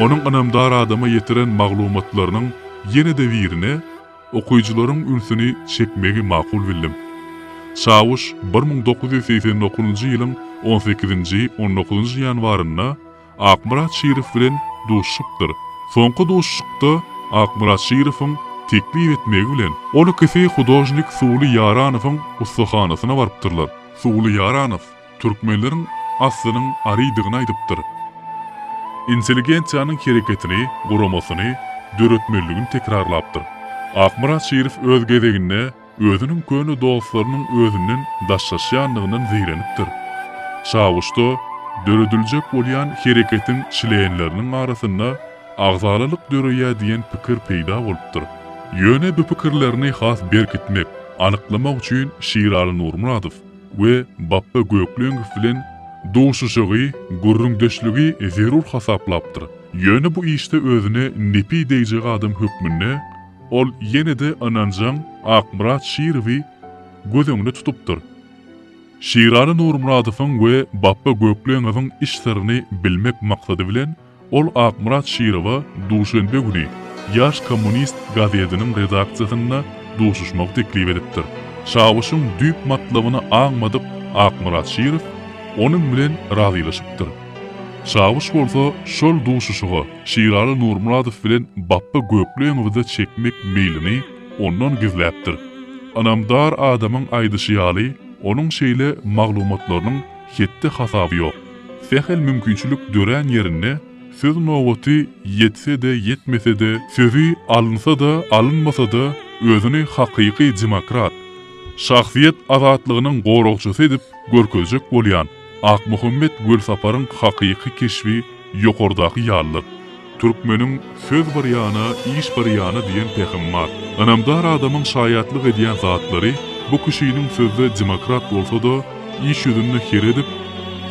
Onuň ynamdar adama ýetiren maglumatlarynyň ýene-de birine okyjylaryň ünsüni çekmegi makul bildim. Çawuş bir müň dokuz ýüz segsen dokuzynjy ýylyň on sekizinji, on dokuzynjy ýanwarynda Akmyrat Şirow bilen duşuşypdyr. Soňky duşuşykda Akmyrat Şirowyň teklip etmegi bilen, ol ikisi hudožnik Suwly Ýaranowyň ussahanasyna barypdyrlar. Suwly Ýaranow türkmenleriň aslynyň arydygyny aýdypdyr. Intelligensiýanyň hereketini, guramasyny döretmelidigini tekrarlapdyr. Akmyrat Şirow öz gezeginde Özüniň köne dostlarynyň özünden daşlaşýandygyndan zeýrenipdir. Çawuşda dörediljek bolýan hereketiň çlenleriniň arasynda agzalalyk döreýär diýen pikir peýda bolupdyr. Ýöne bu pikirlerini has berkitmek, anyklamak üçin Şiraly Nurmyradow we Bapba Gökleňow bilen duşuşygy, gürrüňdeşligi zerur hasaplapdyr. Ýöne bu işde özüne nepi degjek adam hökmünde Ol ýene-de ynanjaň Akmyrat Şirowy göz öňüne tutupdyr. Şiraly Nurmyradowyň we Bapba Gökleňowyň iş syryny bilmek maksady bilen ol Akmyrat Şirowa duşenbe güni Ýaş kommunist gazetiniň redaksiýasynda duşuşmagy teklip edipdir. Çawuşyň düýp matlabyny aňmadyk Akmyrat Şirow onuň bilen razylaşypdyr. Çawuş bolsa şol duşuşyga Şiraly Nurmyradow bilen Bapba Gökleňowy-da çekmek meýlini ondan gizläpdir. Ynamdar adamyň aýdyşy ýaly, onuň şeýle maglumatlarynyň hetdi-hasaby ýok. Sähel mümkinçilik dörän ýerinde söz nobaty ýetse-de, ýetmese-de, sözi alynsa-da, alynmasa-da, özüni hakyky demokrat, şahsyýet azatlygynyň goragçysy edip görkezjek bolýan, Akmuhammet Welsaparyň hakyky keşbi ýokardaky ýalydyr. Türkmeniň Söz bir ýana, iş bir ýana diýen pähimi bar. Ynamdar adamyň şaýatlyk edýän zatlary bu kişiniň sözde demokrat bolsa-da, iş ýüzünde her edip,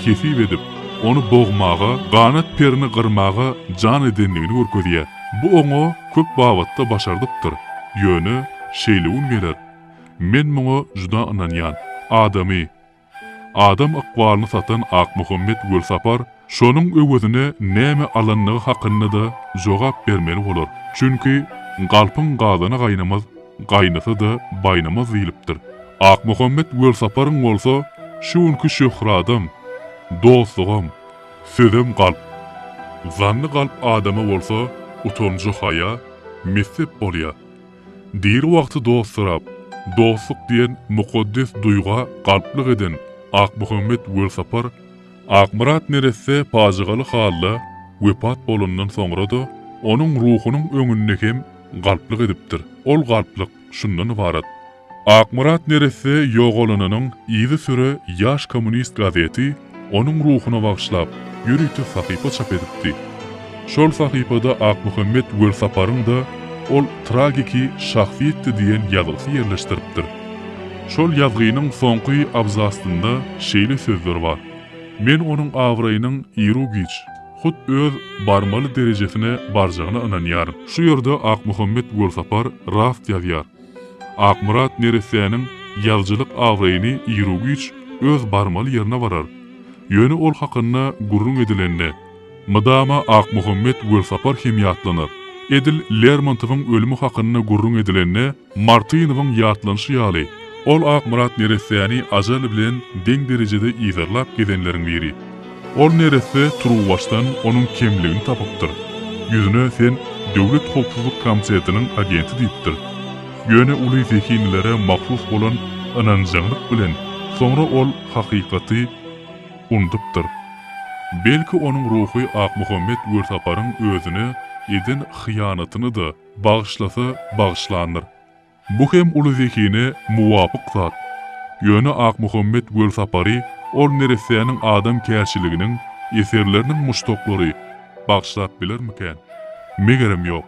hesip edip, ony bogmaga, ganat perini gyrmaga jan edendigini görkezýär. Bu oňa köp babatda başardypdyr. Ýöne, şeýle gün geler. Men muňa juda ynanýan. Adamy, Adam ykbalyny satan Akmuhammet Gulsapar şonuň öwezine näme alandygy hakynda-da jogap bermeli bolar. Çünki, Galpyň gazany gaýnamaz, gaýnasa-da baýnamaz diýlipdir. Akmuhammet Gulsaparyň bolsa şu günki şöhradam, dostlugam, sözem galp. Zanny galp adama bolsa utanjy-haýa, messep bolýar. Diri wagty dost sorap, dostluk diýen mukaddes duýga galplyk eden Akmuhammet Welsapar Akmyrat neresse pajygaly halda wepat bolandan soňra-da, onuň ruhunyň öňünde hem galplyk edipdir. Ol galplyk şundan ybarat. Akmyrat neresse ýogalanynyň yzysüre Ýaş kommunist gazeti Onuň ruhuna bagyşlap, ýörite sahypa çap edipdi. Şol sahypada Akmuhammet Welsaparyň-da Ol tragiki şahsyýetdi diýen ýazgysy ýerleşdiripdir. Şol ýazgynyň soňky abzasynda şeýle sözler bar, Men onuň abraýynyň iru-giç, hut öz barmaly derejesine barjagyna ynanýaryn. Şu ýerde Akmuhammet Welsapar rast ýazýar. Akmyrat neressäniň ýazyjylyk abraýyny iru-giç öz barmaly ýerine barar. Ýöne ol hakynda gürrüň edilende, mydama Akmuhammet Welsapar hem ýatlanar. Edil Lermontowyň ölümi hakynda gürrüň edilende, Martynowyň ýatlanyşy ýaly, ol Akmyrat neressäni ajal bilen deň derejede yzarlap gezenleriň biri. Ol neresse turuwbaşdan onuň kemligini tapypdyr. Ýüzüne sen Döwlet howpsuzlyk komtetiniň agenti diýipdir. Ýöne uly zehinlilere mahsus bolan ynanjaňlyk bilen soňra ol hakykaty unudypdyr. Belki onuň ruhy Akmuhammet Görsaparyň özüne eden hyýanatyny-da bagyşlasa bagyşlandyr. Bu hem uly zehine muwapyk zat. Ýöne Akmuhammet Gölsapary ol neressäniň adamkärçiliginiň eserleriniň muşdaklary bagşlap bilermikän? Megerem ýok.